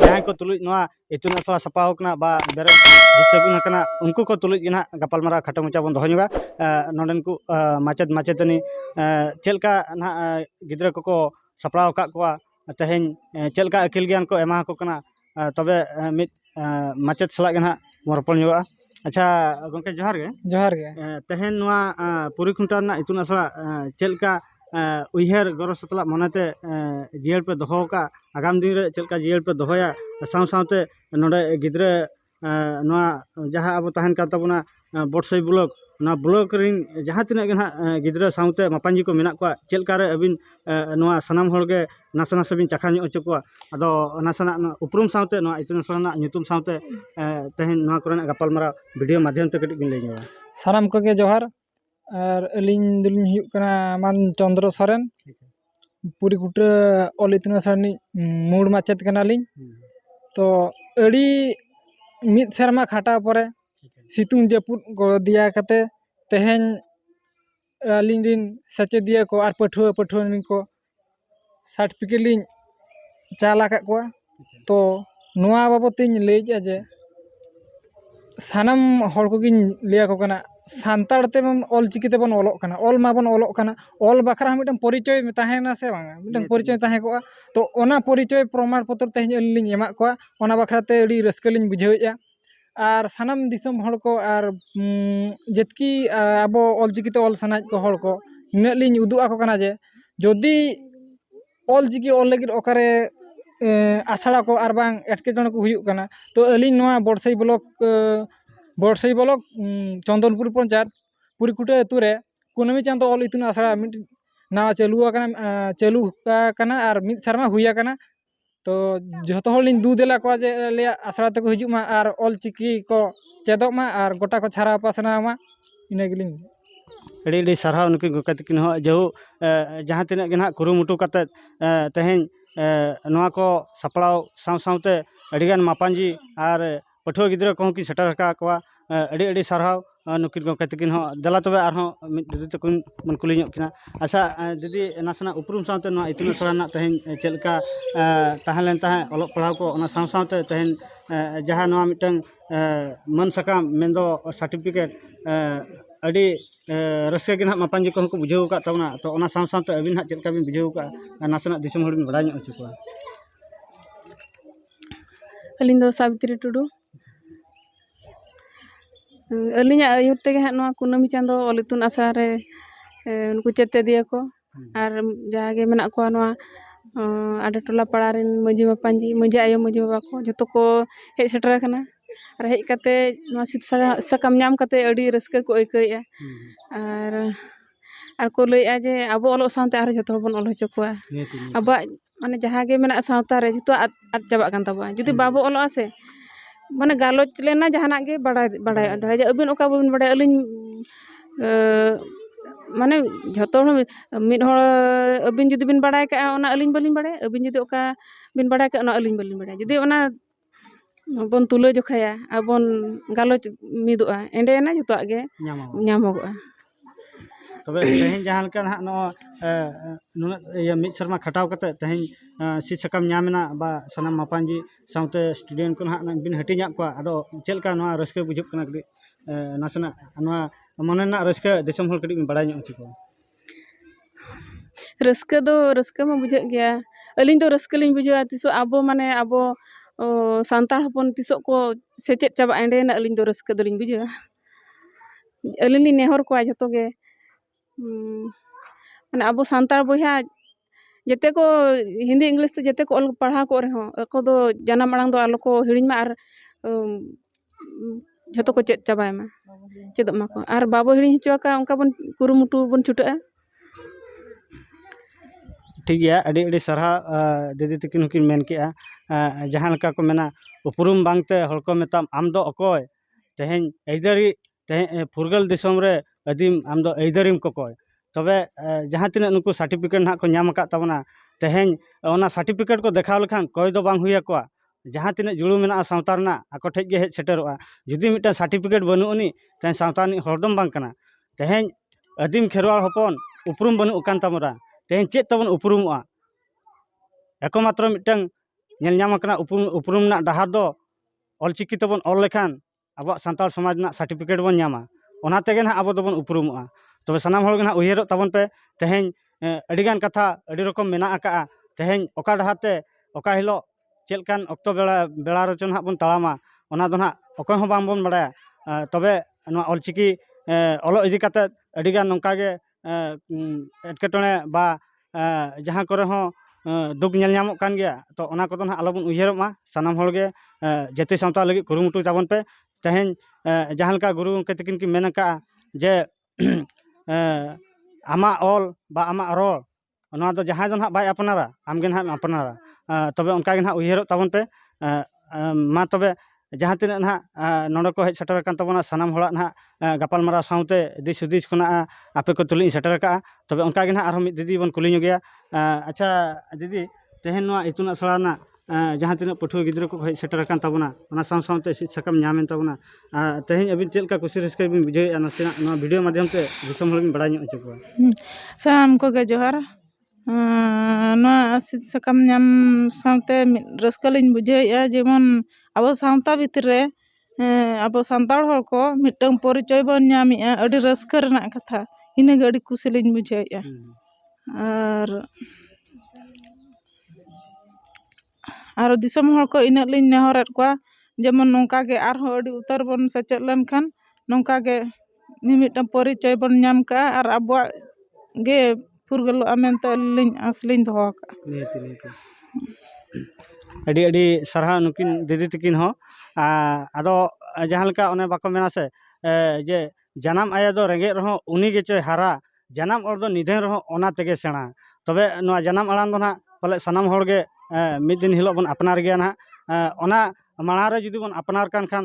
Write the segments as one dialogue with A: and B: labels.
A: ᱡᱟᱦᱟᱸᱭ ᱠᱚ ᱛᱩᱞᱩᱡ ᱱᱚᱣᱟ ᱤᱛᱩᱱ ᱟᱥᱲᱟ ᱥᱟᱯᱟᱣ ᱠᱟᱱᱟ ᱵᱟ ᱵᱮᱨᱮᱫ ᱥᱟᱹᱜᱩᱱ ᱟᱠᱟᱱᱟ ᱩᱱᱠᱩ ᱠᱚ ᱛᱩᱞᱩᱡ ᱜᱮ ᱱᱟᱦᱟᱜ ᱜᱟᱯᱟᱞᱢᱟᱨᱟᱣ ᱠᱷᱟᱴᱚ ᱢᱟᱪᱷᱟ ᱵᱚᱱ ᱫᱚᱦᱚ ᱧᱚᱜᱟ ᱱᱚᱰᱮᱱ ᱠᱚ ᱢᱟᱪᱮᱫ ᱢᱟᱪᱮᱛᱟᱹᱱᱤ ᱪᱮᱫ ᱞᱮᱠᱟ ᱱᱟᱦᱟᱜ ᱜᱤᱫᱽᱨᱟᱹ ᱠᱚᱠᱚ ᱥᱟᱯᱲᱟᱣ ᱟᱠᱟᱫ ᱠᱚᱣᱟ ᱛᱮᱦᱮᱧ ᱪᱮᱫ ᱞᱮᱠᱟ ᱟᱹᱠᱤᱞ ᱜᱮᱭᱟᱱ ᱠᱚ ᱮᱢᱟ ᱟᱠᱚ ᱠᱟᱱᱟ ᱛᱚᱵᱮ ᱢᱤᱫ ᱢᱟᱪᱮᱫ ᱥᱟᱞᱟᱜ ᱜᱮ ᱱᱟᱦᱟᱜ ᱵᱚᱱ ᱨᱚᱯᱚᱲ ᱧᱚᱜᱚᱜᱼᱟ ᱟᱪᱪᱷᱟ ᱜᱚᱢᱠᱮ ᱡᱚᱦᱟᱨ ᱜᱮ ᱡᱚᱦᱟᱨ ᱜᱮ ᱛᱮᱦᱮᱧ ᱱᱚᱣᱟ ᱯᱩᱨᱤ ᱠᱷᱩᱱᱴᱟ ᱨᱮᱱᱟᱜ ᱤᱛᱩᱱ ᱟᱥᱲᱟ ᱪᱮᱫ ᱞᱮᱠᱟ ᱩᱭᱦᱟᱹᱨ ᱜᱚᱨᱚ ᱥᱟᱛᱞᱟᱜ ᱢᱚᱱᱮ ᱛᱮ ᱡᱤᱭᱟᱹᱲ ᱯᱮ ᱫᱚᱦᱚ ᱟᱠᱟᱫᱼᱟ ᱟᱜᱟᱢ ᱫᱤᱱ ᱨᱮ ᱪᱮᱫ ᱞᱮᱠᱟ ᱡᱤᱭᱟᱹᱲ ᱯᱮ ᱫᱚᱦᱚᱭᱟ ᱥᱟᱶ ᱥᱟᱶᱛᱮ ᱱᱚᱰᱮ ᱜᱤᱫᱽᱨᱟᱹ ᱱᱚᱣᱟ ᱡᱟᱦᱟᱸ ᱟᱵᱚ ᱛᱟᱦᱮᱱ ᱠᱟᱱ ᱛᱟᱵᱚᱱᱟ ᱵᱚᱲᱥᱳᱭ ᱵᱞᱚᱠ ᱱᱚᱣᱟ ᱵᱞᱚᱠ ᱨᱮᱱ ᱡᱟᱦᱟᱸ ᱛᱤᱱᱟᱹᱜ ᱜᱮ ᱱᱟᱦᱟᱜ ᱜᱤᱫᱽᱨᱟᱹ ᱥᱟᱶᱛᱮ ᱢᱟᱯᱟᱡᱤ ᱠᱚ ᱢᱮᱱᱟᱜ ᱠᱚᱣᱟ ᱪᱮᱫ ᱞᱮᱠᱟ ᱨᱮ ᱟᱹᱵᱤᱱ ᱱᱚᱣᱟ ᱥᱟᱱᱟᱢ ᱦᱚᱲ ᱜᱮ ᱱᱟᱥᱮ ᱱᱟᱥᱮ ᱵᱤᱱ ᱪᱟᱠᱷᱟ ᱧᱚᱜ ᱦᱚᱪᱚ ᱠᱚᱣᱟ ᱟᱫᱚ ᱱᱟᱥᱮᱱᱟᱜ ᱱᱚᱣᱟ ᱩᱯᱨᱩᱢ ᱥᱟᱶᱛᱮ ᱱᱚᱣᱟ ᱤᱛᱩᱱ ᱟᱥᱲᱟ ᱨᱮᱱᱟᱜ ᱧᱩᱛᱩᱢ ᱥᱟᱶᱛᱮ ᱛᱮᱦᱮᱧ ᱱᱚᱣᱟ ᱠᱚᱨᱮᱱᱟᱜ ᱜᱟᱯᱟᱞᱢᱟᱨᱟᱣ ᱵᱷᱤᱰᱤᱭᱳ ᱢᱟᱫᱽᱫᱷᱚᱢ ᱛᱮ ᱠᱟᱹᱴᱤᱡ ᱵᱤᱱ ᱞᱟᱹᱭ ᱧᱚᱜᱟ ᱥᱟᱱᱟᱢ ᱠᱚᱜᱮ ᱡᱚᱦᱟᱨ ᱟᱨ ᱟᱹᱞᱤᱧ ᱫᱚᱞᱤᱧ ᱦᱩᱭᱩᱜ ᱠᱟᱱᱟ ᱢᱟᱱ ᱪᱚᱱᱫᱨᱚ ᱥᱚᱨᱮᱱ ᱯᱩᱨᱤ ᱠᱩᱴᱟᱹ ᱚᱞ ᱤᱛᱩᱱ ᱟᱥᱲᱟ ᱨᱤᱱᱤᱡ ᱢᱩᱬ ᱢᱟᱪᱮᱫ ᱠᱟᱱᱟᱞᱤᱧ ᱛᱚ ᱟᱹᱰᱤ ᱢᱤᱫ ᱥᱮᱨᱢᱟ ᱠᱷᱟᱴᱟᱣ ᱯᱚᱨᱮ ᱥᱤᱛᱩᱝ ᱡᱟᱹᱯᱩᱫ ᱫᱮᱭᱟ ᱠᱟᱛᱮ ᱛᱮᱦᱮᱧ ᱟᱹᱞᱤᱧ ᱨᱤᱱ ᱥᱮᱪᱮᱫᱤᱭᱟᱹ ᱠᱚ ᱟᱨ ᱯᱟᱹᱴᱷᱩᱣᱟᱹ ᱯᱟᱹᱴᱷᱩᱣᱟᱹ ᱠᱚ ᱥᱟᱨᱴᱤᱯᱷᱤᱠᱮᱴ ᱞᱤᱧ ᱪᱟᱞ ᱟᱠᱟᱫ ᱠᱚᱣᱟ ᱛᱚ ᱱᱚᱣᱟ ᱵᱟᱵᱚᱛ ᱛᱤᱧ ᱞᱟᱹᱭᱮᱫᱼᱟ ᱡᱮ ᱥᱟᱱᱟᱢ ᱦᱚᱲ ᱠᱚᱜᱮᱧ ᱞᱟᱹᱭ ᱟᱠᱚ ᱠᱟᱱᱟ ᱥᱟᱱᱛᱟᱲ ᱛᱮ ᱚᱞ ᱪᱤᱠᱤ ᱛᱮᱵᱚᱱ ᱚᱞᱚᱜ ᱠᱟᱱᱟ ᱚᱞ ᱢᱟᱵᱚᱱ ᱚᱞᱚᱜ ᱠᱟᱱᱟ ᱚᱞ ᱵᱟᱠᱷᱨᱟ ᱦᱚᱸ ᱢᱤᱫᱴᱟᱝ ᱯᱚᱨᱤᱪᱚᱭ ᱛᱟᱦᱮᱱᱟ ᱥᱮ ᱵᱟᱝᱟ ᱢᱤᱫᱴᱟᱝ ᱯᱚᱨᱤᱪᱚᱭ ᱛᱟᱦᱮᱸ ᱠᱚᱜᱼᱟ ᱛᱚ ᱚᱱᱟ ᱯᱚᱨᱤᱪᱚᱭ ᱯᱨᱚᱢᱟᱱ ᱯᱚᱛᱨᱚ ᱛᱮᱦᱮᱧ ᱟᱹᱞᱤᱧ ᱞᱤᱧ ᱮᱢᱟᱜ ᱠᱚᱣᱟ ᱚᱱᱟ ᱵᱟᱠᱷᱨᱟ ᱛᱮ ᱟᱹᱰᱤ ᱨᱟᱹᱥᱠᱟᱹ ᱞᱤᱧ ᱵᱩᱡᱷᱟᱹᱣᱮᱫᱼᱟ ᱟᱨ ᱥᱟᱱᱟᱢ ᱫᱤᱥᱚᱢ ᱦᱚᱲ ᱠᱚ ᱟᱨ ᱡᱮᱛᱠᱤ ᱟᱵᱚ ᱚᱞ ᱪᱤᱠᱤ ᱛᱮ ᱚᱞ ᱥᱟᱱᱟᱭᱮᱫ ᱠᱚ ᱦᱚᱲ ᱠᱚ ᱱᱤᱱᱟᱹᱜ ᱞᱤᱧ ᱩᱫᱩᱜ ᱟᱠᱚ ᱠᱟᱱᱟ ᱡᱮ ᱡᱩᱫᱤ ᱚᱞ ᱪᱤᱠᱤ ᱚᱞ ᱞᱟᱹᱜᱤᱫ ᱚᱠᱟᱨᱮ ᱟᱥᱲᱟ ᱠᱚ ᱟᱨ ᱵᱟᱝ ᱮᱴᱠᱮᱴᱚᱬᱮ ᱠᱚ ᱦᱩᱭᱩᱜ ᱠᱟᱱᱟ ᱛᱚ ᱟᱹᱞᱤᱧ ᱱᱚᱣᱟ ᱵᱚᱲᱥᱟᱭ ᱵᱞᱚᱠ ᱵᱚᱲᱥᱟᱭ ᱵᱞᱚᱠ ᱪᱚᱱᱫᱚᱱᱯᱩᱨ ᱯᱚᱧᱪᱟᱭᱮᱛ ᱯᱩᱨᱤᱠᱩᱴᱟᱹ ᱟᱹᱛᱩ ᱨᱮ ᱠᱩᱱᱟᱹᱢᱤ ᱪᱟᱸᱫᱚ ᱚᱞ ᱤᱛᱩᱱ ᱟᱥᱲᱟ ᱢᱤᱫᱴᱤᱡ ᱱᱟᱣᱟ ᱪᱟᱹᱞᱩ ᱟᱠᱟᱱᱟ ᱪᱟᱹᱞᱩ ᱟᱠᱟᱱᱟ ᱟᱨ ᱢᱤᱫ ᱥᱮᱨᱢᱟ ᱦᱩᱭ ᱟᱠᱟᱱᱟ ᱛᱚ ᱡᱚᱛᱚ ᱦᱚᱲ ᱞᱤᱧ ᱫᱩ ᱫᱮᱞᱟ ᱠᱚᱣᱟ ᱡᱮ ᱟᱞᱮᱭᱟᱜ ᱟᱥᱲᱟ ᱛᱮᱠᱚ ᱦᱤᱡᱩᱜ ᱢᱟ ᱟᱨ ᱚᱞ ᱪᱤᱠᱤ ᱠᱚ ᱪᱮᱫᱚᱜ ᱢᱟ ᱟᱨ ᱜᱚᱴᱟ ᱠᱚ ᱪᱷᱟᱨᱟᱣ ᱯᱟᱥᱱᱟᱣ ᱢᱟ ᱤᱱᱟᱹ ᱜᱮᱞᱤᱧ ᱢᱮᱱᱮᱫᱼᱟ ᱟᱹᱰᱤ ᱟᱹᱰᱤ ᱥᱟᱨᱦᱟᱣ ᱱᱩᱠᱤᱱ ᱜᱚᱢᱠᱮ ᱛᱟᱹᱠᱤᱱ ᱦᱚᱸ ᱡᱮ ᱦᱳ ᱡᱟᱦᱟᱸ ᱛᱤᱱᱟᱹᱜ ᱜᱮ ᱦᱟᱸᱜ ᱠᱩᱨᱩᱢᱩᱴᱩ ᱠᱟᱛᱮᱫ ᱛᱮᱦᱮᱧ ᱱᱚᱣᱟ ᱠᱚ ᱥᱟᱯᱲᱟᱣ ᱥᱟᱶ ᱥᱟᱶᱛᱮ ᱟᱹᱰᱤᱜᱟᱱ ᱢᱟᱯᱟᱡᱤ ᱟᱨ ᱯᱟᱹᱴᱷᱩᱣᱟᱹ ᱜᱤᱫᱽᱨᱟᱹ ᱠᱚᱦᱚᱸ ᱠᱤᱱ ᱥᱮᱴᱮᱨ ᱟᱠᱟᱫ ᱠᱚᱣᱟ ᱟᱹᱰᱤ ᱟᱹᱰᱤ ᱥᱟᱨᱦᱟᱣ ᱱᱩᱠᱤᱱ ᱜᱚᱢᱠᱮ ᱛᱟᱹᱠᱤᱱ ᱦᱚᱸ ᱫᱮᱞᱟ ᱛᱚᱵᱮ ᱟᱨᱦᱚᱸ ᱢᱤᱫ ᱫᱤᱫᱤ ᱛᱟᱹᱠᱤᱱ ᱵᱚᱱ ᱠᱩᱞᱤ ᱧᱚᱜ ᱠᱤᱱᱟ ᱟᱪᱪᱷᱟ ᱫᱤᱫᱤ ᱱᱟᱥᱮᱱᱟᱜ ᱩᱯᱨᱩᱢ ᱥᱟᱶᱛᱮ ᱱᱚᱣᱟ ᱤᱛᱩᱱ ᱟᱥᱲᱟ ᱨᱮᱱᱟᱜ ᱛᱮᱦᱮᱧ ᱪᱮᱫ ᱞᱮᱠᱟ ᱛᱟᱦᱮᱸ ᱞᱮᱱ ᱛᱟᱦᱮᱸᱫ ᱚᱞᱚᱜ ᱯᱟᱲᱦᱟᱣ ᱠᱚ ᱚᱱᱟ ᱥᱟᱶ ᱥᱟᱶᱛᱮ ᱛᱮᱦᱮᱧ ᱡᱟᱦᱟᱸ ᱱᱚᱣᱟ ᱢᱤᱫᱴᱟᱹᱝ ᱢᱟᱹᱱ ᱥᱟᱠᱟᱢ ᱢᱮᱱ ᱫᱚ ᱥᱟᱨᱴᱤᱯᱷᱤᱠᱮᱴ ᱟᱹᱰᱤ ᱨᱟᱹᱥᱠᱟᱹ ᱜᱮ ᱱᱟᱦᱟᱜ ᱢᱟᱯᱟᱧᱡᱤ ᱠᱚᱦᱚᱸ ᱠᱚ ᱵᱩᱡᱷᱟᱹᱣ ᱟᱠᱟᱫ ᱛᱟᱵᱚᱱᱟ ᱛᱚ ᱚᱱᱟ ᱥᱟᱶ ᱥᱟᱶᱛᱮ ᱟᱹᱵᱤᱱ ᱦᱟᱸᱜ ᱪᱮᱫ ᱞᱮᱠᱟ ᱵᱤᱱ ᱵᱩᱡᱷᱟᱹᱣ ᱟᱠᱟᱫᱼᱟ ᱱᱟᱥᱮᱱᱟᱜ ᱫᱤᱥᱚᱢ ᱦᱚᱲ ᱵᱤᱱ ᱵᱟᱲᱟᱭ ᱧᱚᱜ ᱦᱚᱪᱚ ᱠᱚᱣᱟ ᱟᱹᱞᱤᱧ ᱫᱚ ᱥᱟᱵᱤᱛᱨᱤ ᱴᱩᱰᱩ ᱟᱹᱞᱤᱧᱟᱜ ᱟᱹᱭᱩᱨ ᱛᱮᱜᱮ ᱦᱟᱸᱜ ᱱᱚᱣᱟ ᱠᱩᱱᱟᱹᱢᱤ ᱪᱟᱸᱫᱚ ᱚᱞ ᱤᱛᱩᱱ ᱟᱥᱲᱟ ᱨᱮ ᱱᱩᱠᱩ ᱪᱮᱛᱮᱫᱤᱭᱟᱹ ᱠᱚ ᱟᱨ ᱡᱟᱦᱟᱸᱭ ᱜᱮ ᱢᱮᱱᱟᱜ ᱠᱚᱣᱟ ᱱᱚᱣᱟ ᱟᱞᱮ ᱴᱚᱞᱟ ᱯᱟᱲᱟ ᱨᱮᱱ ᱢᱟᱹᱡᱷᱤ ᱢᱟᱯᱟᱡᱤ ᱢᱟᱹᱡᱷᱤ ᱟᱭᱳ ᱢᱟᱹᱡᱷᱤ ᱵᱟᱵᱟ ᱠᱚ ᱡᱚᱛᱚ ᱠᱚ ᱦᱮᱡ ᱥᱮᱴᱮᱨ ᱟᱠᱟᱱᱟ ᱟᱨ ᱦᱮᱡ ᱠᱟᱛᱮ ᱱᱚᱣᱟ ᱥᱤᱫ ᱥᱟᱠᱟᱢ ᱧᱟᱢ ᱠᱟᱛᱮ ᱟᱹᱰᱤ ᱨᱟᱹᱥᱠᱟᱹ ᱠᱚ ᱟᱹᱭᱠᱟᱹᱣᱮᱜᱼᱟ ᱟᱨ ᱟᱨ ᱠᱚ ᱞᱟᱹᱭᱮᱜᱼᱟ ᱡᱮ ᱟᱵᱚ ᱚᱞᱚᱜ ᱥᱟᱶᱛᱮ ᱟᱨᱚ ᱡᱚᱛᱚ ᱦᱚᱲ ᱵᱚᱱ ᱚᱞ ᱦᱚᱪᱚ ᱠᱚᱣᱟ ᱟᱵᱚᱣᱟᱜ ᱢᱟᱱᱮ ᱡᱟᱦᱟᱸ ᱜᱮ ᱢᱮᱱᱟᱜᱼᱟ ᱥᱟᱶᱛᱟ ᱨᱮ ᱡᱚᱛᱚᱣᱟᱜ ᱟᱫ ᱟᱫ ᱪᱟᱵᱟᱜ ᱠᱟᱱ ᱛᱟᱵᱚᱱᱟ ᱡᱩᱫᱤ ᱵᱟᱵᱚ ᱚᱞᱚᱜᱼᱟ ᱥᱮ ᱢᱟᱱᱮ ᱜᱟᱞᱚᱪ ᱞᱮᱱᱟ ᱡᱟᱦᱟᱱᱟᱜ ᱜᱮ ᱵᱟᱲᱟᱭ ᱵᱟᱲᱟᱭᱚᱜᱼᱟ ᱫᱷᱚᱨᱚ ᱡᱮ ᱟᱹᱵᱤᱱ ᱚᱠᱟ ᱵᱟᱹᱵᱤᱱ ᱵᱟᱲᱟᱭᱟ ᱟᱹᱞᱤᱧ ᱢᱟᱱᱮ ᱡᱷᱚᱛᱚ ᱦᱚᱲ ᱢᱤᱫ ᱦᱚᱲ ᱟᱹᱵᱤᱱ ᱡᱩᱫᱤ ᱵᱤᱱ ᱵᱟᱲᱟᱭ ᱠᱟᱜᱼᱟ ᱚᱱᱟ ᱟᱹᱞᱤᱧ ᱵᱟᱹᱞᱤᱧ ᱵᱟᱲᱟᱭᱟ ᱟᱹᱵᱤᱱ ᱡᱩᱫᱤ ᱚᱠᱟ ᱵᱤᱱ ᱵᱟᱲᱟᱭ ᱠᱟᱜᱼᱟ ᱚᱱᱟ ᱟᱹᱞᱤᱧ ᱵᱟᱹᱞᱤᱧ ᱵᱟᱲᱟᱭᱟ ᱡᱩᱫᱤ ᱚᱱᱟ ᱵᱚᱱ ᱛᱩᱞᱟᱹ ᱡᱚᱠᱷᱟᱭᱟ ᱟᱨ ᱵᱚᱱ ᱜᱟᱞᱚᱪ ᱢᱤᱫᱚᱜᱼᱟ ᱮᱸᱰᱮ ᱟᱱᱟᱜ ᱡᱚᱛᱚᱣᱟᱜ ᱜᱮ ᱧᱟᱢᱚᱜᱚᱜᱼᱟ ᱛᱚᱵᱮ ᱛᱮᱦᱮᱧ ᱡᱟᱦᱟᱸ ᱞᱮᱠᱟ ᱱᱟᱦᱟᱜ ᱱᱚᱣᱟ ᱱᱩᱱᱟᱹᱜ ᱤᱭᱟᱹ ᱢᱤᱫ ᱥᱮᱨᱢᱟ ᱠᱷᱟᱴᱟᱣ ᱠᱟᱛᱮ ᱛᱮᱦᱮᱧ ᱥᱤᱫ ᱥᱟᱠᱟᱢ ᱧᱟᱢ ᱮᱱᱟ ᱵᱟ ᱥᱟᱱᱟᱢ ᱢᱟᱯᱟᱡᱤ ᱥᱟᱶᱛᱮ ᱥᱴᱩᱰᱮᱱᱴ ᱠᱚ ᱱᱟᱦᱟᱜ ᱵᱤᱱ ᱦᱟᱹᱴᱤᱧᱟᱜ ᱠᱚᱣᱟ ᱟᱫᱚ ᱪᱮᱫ ᱞᱮᱠᱟ ᱱᱚᱣᱟ ᱨᱟᱹᱥᱠᱟᱹ ᱵᱩᱡᱷᱟᱹᱜ ᱠᱟᱱᱟ ᱠᱟᱹᱴᱤᱡ ᱱᱟᱥᱮᱱᱟᱜ ᱱᱚᱣᱟ ᱢᱚᱱᱮ ᱨᱮᱱᱟᱜ ᱨᱟᱹᱥᱠᱟᱹ ᱫᱤᱥᱚᱢ ᱦᱚᱲ ᱠᱟᱹᱴᱤᱡ ᱵᱤᱱ ᱵᱟᱲᱟᱭ ᱧᱚᱜ ᱦᱚᱪᱚ ᱠᱚᱣᱟ ᱨᱟᱹᱥᱠᱟᱹ ᱫᱚ ᱨᱟᱹᱥᱠᱟᱹ ᱢᱟ ᱵᱩᱡᱷᱟᱹᱜ ᱜᱮᱭᱟ ᱟᱹᱞᱤᱧ ᱫᱚ ᱨᱟᱹᱥᱠᱟᱹ ᱞᱤᱧ ᱵᱩᱡᱷᱟᱹᱣᱟ ᱛᱤᱥᱚᱜ ᱟᱵᱚ ᱢᱟᱱᱮ ᱟᱵᱚ ᱥᱟᱱᱛᱟᱲ ᱦᱚᱯᱚᱱ ᱛᱤᱥᱚᱜ ᱠᱚ ᱥᱮᱪᱮᱫ ᱪᱟᱵᱟᱜᱼᱟ ᱮᱸᱰᱮᱭᱟᱱᱟᱜ ᱟᱹᱞᱤᱧ ᱫᱚ ᱨᱟᱹᱥᱠᱟᱹ ᱫᱚᱞᱤᱧ ᱵᱩᱡᱷᱟᱹᱣᱟ ᱟᱹᱞᱤᱧ ᱞᱤᱧ ᱱᱮᱦᱚᱨ ᱠᱚᱣᱟ ᱡᱷᱚᱛᱚ ᱜᱮ ᱢᱟᱱᱮ ᱟᱵᱚ ᱥᱟᱱᱛᱟᱲ ᱵᱚᱭᱦᱟ ᱡᱮᱛᱮ ᱠᱚ ᱦᱤᱱᱫᱤ ᱤᱝᱞᱤᱥ ᱛᱮ ᱡᱮᱛᱮ ᱠᱚ ᱚᱞ ᱯᱟᱲᱦᱟᱣ ᱠᱚᱜ ᱨᱮᱦᱚᱸ ᱟᱠᱚ ᱫᱚ ᱡᱟᱱᱟᱢ ᱟᱲᱟᱝ ᱫᱚ ᱟᱞᱚ ᱠᱚ ᱦᱤᱲᱤᱧ ᱢᱟ ᱟᱨ ᱡᱷᱚᱛᱚ ᱠᱚ ᱪᱮᱫ ᱪᱟᱵᱟᱭ ᱢᱟ ᱪᱮᱫᱚᱜ ᱢᱟᱠᱚ ᱟᱨ ᱵᱟᱵᱚ ᱦᱤᱲᱤᱧ ᱦᱚᱪᱚ ᱟᱠᱚᱣᱟ ᱚᱱᱠᱟ ᱵᱚᱱ ᱠᱩᱨᱩᱢᱩᱴᱩ ᱵᱚᱱ ᱪᱷᱩᱴᱟᱹᱜᱼᱟ ᱴᱷᱤᱠ ᱜᱮᱭᱟ ᱟᱹᱰᱤ ᱟᱹᱰᱤ ᱥᱟᱨᱦᱟᱣ ᱫᱤᱫᱤ ᱛᱟᱹᱠᱤᱱ ᱦᱚᱸᱠᱤᱱ ᱢᱮᱱ ᱠᱮᱜᱼᱟ ᱡᱟᱦᱟᱸ ᱞᱮᱠᱟ ᱠᱚ ᱢᱮᱱᱟ ᱩᱯᱨᱩᱢ ᱵᱟᱝᱛᱮ ᱦᱚᱲ ᱠᱚ ᱢᱮᱛᱟᱢ ᱟᱢᱫᱚ ᱚᱠᱚᱭ ᱛᱮᱦᱮᱧ ᱟᱹᱭᱫᱟᱹᱨᱤ ᱛᱮᱦᱮᱧ ᱯᱷᱩᱨᱜᱟᱹᱞ ᱫᱤᱥᱚᱢ ᱨᱮ ᱟᱹᱫᱤᱢ ᱟᱢ ᱫᱚ ᱟᱹᱭᱫᱟᱹᱨᱤᱢ ᱠᱚᱠᱚᱭ ᱛᱚᱵᱮ ᱡᱟᱦᱟᱸ ᱛᱤᱱᱟᱹᱜ ᱱᱩᱠᱩ ᱥᱟᱨᱴᱤᱯᱷᱤᱠᱮᱴ ᱱᱟᱦᱟᱜ ᱠᱚ ᱧᱟᱢ ᱟᱠᱟᱫ ᱛᱟᱵᱚᱱᱟ ᱛᱮᱦᱮᱧ ᱚᱱᱟ ᱥᱟᱨᱴᱤᱯᱷᱤᱠᱮᱴ ᱠᱚ ᱫᱮᱠᱷᱟᱣ ᱞᱮᱠᱷᱟᱱ ᱠᱚᱭ ᱫᱚ ᱵᱟᱝ ᱦᱩᱭ ᱟᱠᱚᱣᱟ ᱡᱟᱦᱟᱸ ᱛᱤᱱᱟᱹᱜ ᱡᱩᱲᱩ ᱢᱮᱱᱟᱜᱼᱟ ᱥᱟᱶᱛᱟ ᱨᱮᱱᱟᱜ ᱟᱠᱚ ᱴᱷᱮᱱ ᱜᱮ ᱦᱮᱡ ᱥᱮᱴᱮᱨᱚᱜᱼᱟ ᱡᱩᱫᱤ ᱢᱤᱫᱴᱟᱝ ᱥᱟᱨᱴᱤᱯᱷᱤᱠᱮᱴ ᱵᱟᱹᱱᱩᱜ ᱟᱹᱱᱤᱡ ᱛᱮᱦᱮᱧ ᱥᱟᱶᱛᱟ ᱨᱤᱱᱤᱡ ᱦᱚᱲ ᱫᱚᱢ ᱵᱟᱝ ᱠᱟᱱᱟ ᱛᱮᱦᱮᱧ ᱟᱹᱫᱤᱢ ᱠᱷᱮᱨᱣᱟᱲ ᱦᱚᱯᱚᱱ ᱩᱯᱨᱩᱢ ᱵᱟᱹᱱᱩᱜ ᱟᱠᱟᱱ ᱛᱟᱵᱚᱱᱟ ᱛᱮᱦᱮᱧ ᱪᱮᱫ ᱛᱮᱵᱚᱱ ᱩᱯᱨᱩᱢᱚᱜᱼᱟ ᱮᱠᱚ ᱢᱟᱛᱨᱚ ᱢᱤᱫᱴᱟᱝ ᱧᱮᱞ ᱧᱟᱢ ᱟᱠᱟᱱᱟ ᱩᱯᱨᱩᱢ ᱩᱯᱨᱩᱢ ᱨᱮᱱᱟᱜ ᱰᱟᱦᱟᱨ ᱫᱚ ᱚᱞᱪᱤᱠᱤ ᱛᱮᱵᱚᱱ ᱚᱞ ᱞᱮᱠᱷᱟᱱ ᱟᱵᱚᱣᱟᱜ ᱥᱟᱱᱛᱟᱲ ᱥᱚᱢᱟᱡᱽ ᱨᱮᱱᱟᱜ ᱥᱟᱨᱴᱤᱯᱷᱤᱠᱮᱴ ᱵᱚᱱ ᱧᱟᱢᱟ ᱚᱱᱟ ᱛᱮᱜᱮ ᱦᱟᱸᱜ ᱟᱵᱚ ᱫᱚᱵᱚᱱ ᱩᱯᱨᱩᱢᱚᱜᱼᱟ ᱛᱚᱵᱮ ᱥᱟᱱᱟᱢ ᱦᱚᱲᱜᱮ ᱦᱟᱸᱜ ᱩᱭᱦᱟᱹᱨᱚᱜ ᱛᱟᱵᱚᱱ ᱯᱮ ᱛᱮᱦᱮᱧ ᱟᱹᱰᱤ ᱜᱟᱱ ᱠᱟᱛᱷᱟ ᱟᱹᱰᱤ ᱨᱚᱠᱚᱢ ᱢᱮᱱᱟᱜ ᱟᱠᱟᱫᱼᱟ ᱛᱮᱦᱮᱧ ᱚᱠᱟ ᱰᱟᱦᱟᱨ ᱛᱮ ᱚᱠᱟ ᱦᱤᱞᱳᱜ ᱪᱮᱫ ᱞᱮᱠᱟᱱ ᱚᱠᱛᱚ ᱵᱮᱲᱟ ᱵᱮᱲᱟ ᱨᱮᱪᱚ ᱦᱟᱸᱜ ᱵᱚᱱ ᱛᱟᱲᱟᱢᱟ ᱚᱱᱟ ᱫᱚ ᱦᱟᱸᱜ ᱚᱠᱚᱭ ᱦᱚᱸ ᱵᱟᱝᱵᱚᱱ ᱵᱟᱲᱟᱭᱟ ᱛᱚᱵᱮ ᱱᱚᱣᱟ ᱚᱞᱪᱤᱠᱤ ᱚᱞᱚᱜ ᱤᱫᱤ ᱠᱟᱛᱮᱫ ᱟᱹᱰᱤᱜᱟᱱ ᱱᱚᱝᱠᱟᱜᱮ ᱮᱴᱠᱮᱴᱚᱬᱮ ᱵᱟ ᱡᱟᱦᱟᱸ ᱠᱚᱨᱮ ᱦᱚᱸ ᱫᱩᱠ ᱧᱮᱞ ᱧᱟᱢᱚᱜ ᱠᱟᱱ ᱜᱮᱭᱟ ᱛᱚ ᱚᱱᱟ ᱠᱚᱫᱚ ᱱᱟᱦᱟᱜ ᱟᱞᱚᱵᱚᱱ ᱩᱭᱦᱟᱹᱨᱚᱜ ᱢᱟ ᱥᱟᱱᱟᱢ ᱦᱚᱲ ᱜᱮ ᱡᱟᱹᱛᱤ ᱥᱟᱶᱛᱟ ᱞᱟᱹᱜᱤᱫ ᱠᱩᱨᱩᱢᱩᱴᱩᱭ ᱛᱟᱵᱚᱱ ᱯᱮ ᱛᱮᱦᱮᱧ ᱡᱟᱦᱟᱸ ᱞᱮᱠᱟ ᱜᱩᱨᱩ ᱜᱚᱢᱠᱮ ᱛᱟᱹᱠᱤᱱ ᱠᱤᱱ ᱢᱮᱱ ᱠᱟᱜᱼᱟ ᱡᱮ ᱟᱢᱟᱜ ᱚᱞ ᱵᱟ ᱟᱢᱟᱜ ᱨᱚᱲ ᱱᱚᱣᱟ ᱫᱚ ᱡᱟᱦᱟᱸᱭ ᱫᱚ ᱦᱟᱸᱜ ᱵᱟᱭ ᱟᱯᱱᱟᱨᱟ ᱟᱢ ᱜᱮ ᱦᱟᱸᱜ ᱮᱢ ᱟᱯᱱᱟᱨᱟ ᱛᱚᱵᱮ ᱚᱱᱠᱟ ᱜᱮ ᱦᱟᱸᱜ ᱩᱭᱦᱟᱹᱨᱚᱜ ᱛᱟᱵᱚᱱ ᱯᱮ ᱢᱟ ᱛᱚᱵᱮ ᱡᱟᱦᱟᱸ ᱛᱤᱱᱟᱹᱜ ᱦᱟᱸᱜ ᱱᱚᱰᱮ ᱠᱚ ᱦᱮᱡ ᱥᱮᱴᱮᱨ ᱟᱠᱟᱱ ᱛᱟᱵᱚᱱᱟ ᱥᱟᱱᱟᱢ ᱦᱚᱲᱟᱜ ᱦᱟᱸᱜ ᱜᱟᱯᱟᱞᱢᱟᱨᱟᱣ ᱥᱟᱶᱛᱮ ᱫᱤᱥ ᱦᱩᱫᱤᱥ ᱠᱷᱚᱱᱟᱜ ᱟᱯᱮ ᱠᱚ ᱛᱩᱞᱩᱡ ᱤᱧ ᱥᱮᱴᱮᱨ ᱠᱟᱜᱼᱟ ᱛᱚᱵᱮ ᱚᱱᱠᱟ ᱜᱮ ᱦᱟᱸᱜ ᱟᱨᱦᱚᱸ ᱢᱤᱫ ᱫᱤᱫᱤ ᱵᱚᱱ ᱠᱩᱞᱤ ᱧᱚᱜᱮᱭᱟ ᱟᱪᱪᱷᱟ ᱫᱤᱫᱤ ᱛᱮᱦᱮᱧ ᱱᱚᱣᱟ ᱤᱛᱩᱱ ᱟᱥᱲᱟ ᱨᱮᱱᱟᱜ ᱡᱟᱦᱟᱸ ᱛᱤᱱᱟᱹᱜ ᱯᱟᱹᱴᱷᱩᱣᱟᱹ ᱜᱤᱫᱽᱨᱟᱹ ᱠᱚᱠᱚ ᱦᱮᱡ ᱥᱮᱴᱮᱨ ᱟᱠᱟᱱ ᱛᱟᱵᱚᱱᱟ ᱚᱱᱟ ᱥᱟᱶ ᱥᱟᱶᱛᱮ ᱥᱤᱫ ᱥᱟᱠᱟᱢ ᱧᱟᱢᱮᱱ ᱛᱟᱵᱚᱱᱟ ᱟᱨ ᱛᱮᱦᱮᱧ ᱟᱹᱵᱤᱱ ᱪᱮᱫ ᱞᱮᱠᱟ ᱠᱩᱥᱤ ᱨᱟᱹᱥᱠᱟᱹ ᱵᱤᱱ ᱵᱩᱡᱷᱟᱹᱣᱮᱜᱼᱟ ᱱᱟᱥᱮᱱᱟᱜ ᱱᱚᱣᱟ ᱵᱷᱤᱰᱤᱭᱳ ᱢᱟᱫᱽᱫᱷᱚᱢ ᱛᱮ ᱫᱤᱥᱚᱢ ᱦᱚᱲ ᱵᱤᱱ ᱵᱟᱲᱟᱭ ᱧᱚᱜ ᱦᱚᱪᱚ ᱠᱚᱣᱟ ᱥᱟᱱᱟᱢ ᱠᱚᱜᱮ ᱡᱚᱦᱟᱨ ᱱᱚᱣᱟ ᱥᱤᱫ ᱥᱟᱠᱟᱢ ᱧᱟᱢ ᱥᱟᱶᱛᱮ ᱢᱤᱫ ᱨᱟᱹᱥᱠᱟᱹ ᱞᱤᱧ ᱵᱩᱡᱷᱟᱹᱣᱮᱜᱼᱟ ᱡᱮᱢᱚᱱ ᱟᱵᱚ ᱥᱟᱶᱛᱟ ᱵᱷᱤᱛᱨᱤ ᱨᱮ ᱟᱵᱚ ᱥᱟᱱᱛᱟᱲ ᱦᱚᱲ ᱠᱚ ᱢᱤᱫᱴᱟᱹᱝ ᱯᱚᱨᱤᱪᱚᱭ ᱵᱚᱱ ᱧᱟᱢᱮᱜᱼᱟ ᱟᱹᱰᱤ ᱨᱟᱹᱥᱠᱟᱹ ᱨᱮᱱᱟᱜ ᱠᱟᱛᱷᱟ ᱤᱱᱟᱹᱜᱮ ᱟᱹᱰᱤ ᱠᱩᱥᱤ ᱞᱤᱧ ᱵᱩᱡᱷᱟᱹᱣᱮᱜᱼᱟ ᱟᱨ ᱟᱨ ᱫᱤᱥᱚᱢ ᱦᱚᱲ ᱠᱚ ᱤᱱᱟᱹᱜ ᱞᱤᱧ ᱱᱮᱦᱚᱨᱮᱜ ᱠᱚᱣᱟ ᱡᱮᱢᱚᱱ ᱱᱚᱝᱠᱟᱜᱮ ᱟᱨᱦᱚᱸ ᱟᱹᱰᱤ ᱩᱛᱟᱹᱨ ᱵᱚᱱ ᱥᱮᱪᱮᱫ ᱞᱮᱱᱠᱷᱟᱱ ᱱᱚᱝᱠᱟᱜᱮ ᱢᱤᱢᱤᱫᱴᱟᱝ ᱯᱚᱨᱤᱪᱚᱭ ᱵᱚᱱ ᱧᱟᱢ ᱠᱟᱜᱼᱟ ᱟᱨ ᱟᱵᱚᱣᱟᱜ ᱜᱮ ᱯᱷᱩᱨᱜᱟᱹᱞᱚᱜᱼᱟ ᱢᱮᱱᱛᱮ ᱟᱹᱞᱤᱧ ᱞᱤᱧ ᱟᱸᱥ ᱞᱤᱧ ᱫᱚᱦᱚ ᱟᱠᱟᱫᱼᱟ ᱱᱤᱦᱟᱹᱛᱤ ᱱᱤᱦᱟᱹᱛᱤ ᱟᱹᱰᱤ ᱟᱹᱰᱤ ᱥᱟᱨᱦᱟᱣ ᱱᱩᱠᱤᱱ ᱫᱤᱫᱤ ᱛᱟᱹᱠᱤᱱ ᱦᱚᱸ ᱟᱫᱚ ᱡᱟᱦᱟᱸ ᱞᱮᱠᱟ ᱚᱱᱮ ᱵᱟᱠᱚ ᱢᱮᱱᱟ ᱥᱮ ᱡᱮ ᱡᱟᱱᱟᱢ ᱟᱭᱳ ᱫᱚ ᱨᱮᱸᱜᱮᱡ ᱨᱮᱦᱚᱸ ᱩᱱᱤ ᱜᱮᱪᱚᱭ ᱦᱟᱨᱟ ᱡᱟᱱᱟᱢ ᱦᱚᱲ ᱫᱚ ᱱᱤᱫᱷᱟᱹᱱ ᱨᱮᱦᱚᱸ ᱚᱱᱟ ᱛᱮᱜᱮ ᱥᱮᱬᱟ ᱛᱚᱵᱮ ᱱᱚᱣᱟ ᱡᱟᱱᱟᱢ ᱟᱲᱟᱝ ᱫᱚ ᱦᱟᱸᱜ ᱯᱟᱞᱮᱫ ᱥᱟᱱᱟᱢ ᱦᱚᱲ ᱜᱮ ᱢᱤᱫ ᱫᱤᱱ ᱦᱤᱞᱳᱜ ᱵᱚᱱ ᱟᱯᱱᱟᱨ ᱜᱮᱭᱟ ᱦᱟᱸᱜ ᱚᱱᱟ ᱢᱟᱲᱟᱝ ᱨᱮ ᱡᱩᱫᱤ ᱵᱚᱱ ᱟᱯᱱᱟᱨ ᱠᱟᱱ ᱠᱷᱟᱱ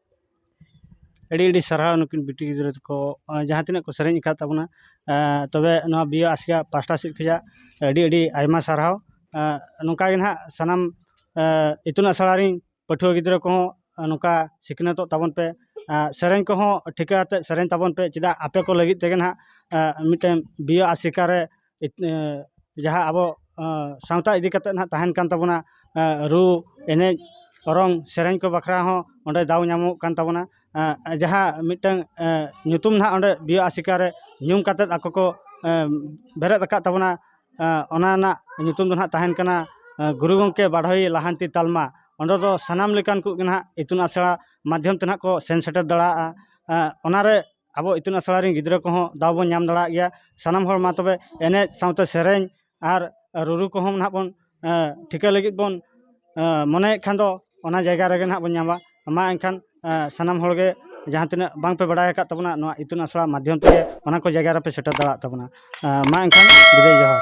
A: ᱟᱹᱰᱤ ᱟᱹᱰᱤ ᱥᱟᱨᱦᱟᱣ ᱱᱩᱠᱤᱱ ᱵᱤᱴᱤ ᱜᱤᱫᱽᱨᱟᱹ ᱛᱟᱠᱚ ᱡᱟᱦᱟᱸ ᱛᱤᱱᱟᱹᱜ ᱠᱚ ᱥᱮᱨᱮᱧ ᱟᱠᱟᱫ ᱛᱟᱵᱚᱱᱟ ᱛᱚᱵᱮ ᱱᱚᱣᱟ ᱵᱤ ᱮ ᱟᱥᱲᱟ ᱯᱟᱥᱴᱟ ᱥᱮᱫ ᱠᱷᱚᱱᱟᱜ ᱟᱹᱰᱤ ᱟᱹᱰᱤ ᱟᱭᱢᱟ ᱥᱟᱨᱦᱟᱣ ᱱᱚᱝᱠᱟ ᱜᱮ ᱱᱟᱦᱟᱜ ᱥᱟᱱᱟᱢ ᱤᱛᱩᱱ ᱟᱥᱲᱟ ᱨᱮᱱ ᱯᱟᱹᱴᱷᱩᱣᱟᱹ ᱜᱤᱫᱽᱨᱟᱹ ᱠᱚᱦᱚᱸ ᱱᱚᱝᱠᱟ ᱥᱤᱠᱷᱱᱟᱹᱛᱚᱜ ᱛᱟᱵᱚᱱ ᱯᱮ ᱥᱮᱨᱮᱧ ᱠᱚᱦᱚᱸ ᱴᱷᱤᱠᱟᱹ ᱠᱟᱛᱮᱫ ᱥᱮᱨᱮᱧ ᱛᱟᱵᱚᱱ ᱯᱮ ᱪᱮᱫᱟᱜ ᱟᱯᱮ ᱠᱚ ᱞᱟᱹᱜᱤᱫ ᱛᱮᱜᱮ ᱱᱟᱦᱟᱜ ᱢᱤᱫᱴᱮᱱ ᱵᱤ ᱮ ᱟᱥᱮᱠᱟ ᱨᱮ ᱡᱟᱦᱟᱸ ᱟᱵᱚ ᱥᱟᱶᱛᱟ ᱤᱫᱤ ᱠᱟᱛᱮᱫ ᱱᱟᱦᱟᱜ ᱛᱟᱦᱮᱱ ᱠᱟᱱ ᱛᱟᱵᱚᱱᱟ ᱨᱩ ᱮᱱᱮᱡ ᱚᱨᱚᱝ ᱥᱮᱨᱮᱧ ᱠᱚ ᱵᱟᱠᱷᱨᱟ ᱦᱚᱸ ᱚᱸᱰᱮ ᱫᱟᱣ ᱧᱟᱢᱚᱜ ᱠᱟᱱ ᱛᱟᱵᱚᱱᱟ ᱡᱟᱦᱟᱸ ᱢᱤᱫᱴᱟᱹᱝ ᱧᱩᱛᱩᱢ ᱱᱟᱦᱟᱜ ᱚᱸᱰᱮ ᱵᱤᱭᱮ ᱟᱥᱮᱠᱟ ᱨᱮ ᱧᱩᱢ ᱠᱟᱛᱮᱫ ᱟᱠᱚ ᱠᱚ ᱵᱮᱨᱮᱫ ᱟᱠᱟᱫ ᱛᱟᱵᱚᱱᱟ ᱚᱱᱟ ᱨᱮᱱᱟᱜ ᱧᱩᱛᱩᱢ ᱫᱚ ᱱᱟᱦᱟᱜ ᱛᱟᱦᱮᱱ ᱠᱟᱱᱟ ᱜᱩᱨᱩ ᱜᱚᱢᱠᱮ ᱵᱟᱰᱚᱭᱤ ᱞᱟᱦᱟᱱᱛᱤ ᱛᱟᱞᱢᱟ ᱚᱸᱰᱮ ᱫᱚ ᱥᱟᱱᱟᱢ ᱞᱮᱠᱟᱱ ᱠᱚᱜᱮ ᱱᱟᱦᱟᱜ ᱤᱛᱩᱱ ᱟᱥᱲᱟ ᱢᱟᱫᱽᱫᱷᱚᱢ ᱛᱮ ᱱᱟᱦᱟᱜ ᱠᱚ ᱥᱮᱱ ᱥᱮᱴᱮᱨ ᱫᱟᱲᱮᱭᱟᱜᱼᱟ ᱚᱱᱟᱨᱮ ᱟᱵᱚ ᱤᱛᱩᱱ ᱟᱥᱲᱟ ᱨᱮᱱ ᱜᱤᱫᱽᱨᱟᱹ ᱠᱚᱦᱚᱸ ᱫᱟᱣ ᱵᱚᱱ ᱧᱟᱢ ᱫᱟᱲᱮᱭᱟᱜ ᱜᱮᱭᱟ ᱥᱟᱱᱟᱢ ᱦᱚᱲ ᱢᱟ ᱛᱚᱵᱮ ᱮᱱᱮᱡ ᱥᱟᱶᱛᱮ ᱥᱮᱨᱮᱧ ᱟᱨ ᱨᱩᱨᱩ ᱠᱚᱦᱚᱸ ᱱᱟᱦᱟᱜ ᱵᱚᱱ ᱴᱷᱤᱠᱟᱹ ᱞᱟᱹᱜᱤᱫ ᱵᱚᱱ ᱢᱚᱱᱮᱭᱮᱫ ᱠᱷᱟᱱ ᱫᱚ ᱚᱱᱟ ᱡᱟᱭᱜᱟ ᱨᱮᱜᱮ ᱱᱟᱦᱟᱜ ᱵᱚᱱ ᱧᱟᱢᱟ ᱢᱟ ᱮᱱᱠᱷᱟᱱ ᱥᱟᱱᱟᱢ ᱦᱚᱲ ᱜᱮ ᱡᱟᱦᱟᱸ ᱛᱤᱱᱟᱹᱜ ᱵᱟᱝ ᱯᱮ ᱵᱟᱲᱟᱭ ᱟᱠᱟᱫ ᱛᱟᱵᱚᱱᱟ ᱱᱚᱣᱟ ᱤᱛᱩᱱ ᱟᱥᱲᱟ ᱢᱟᱫᱽᱫᱷᱚᱢ ᱛᱮᱜᱮ ᱚᱱᱟ ᱠᱚ ᱡᱟᱭᱜᱟ ᱨᱮᱯᱮ ᱥᱮᱴᱮᱨ ᱫᱟᱲᱮᱭᱟᱜ ᱛᱟᱵᱚᱱᱟ ᱢᱟ ᱮᱱᱠᱷᱟᱱ ᱵᱤᱫᱟᱹᱭ ᱡᱚᱦᱟᱨ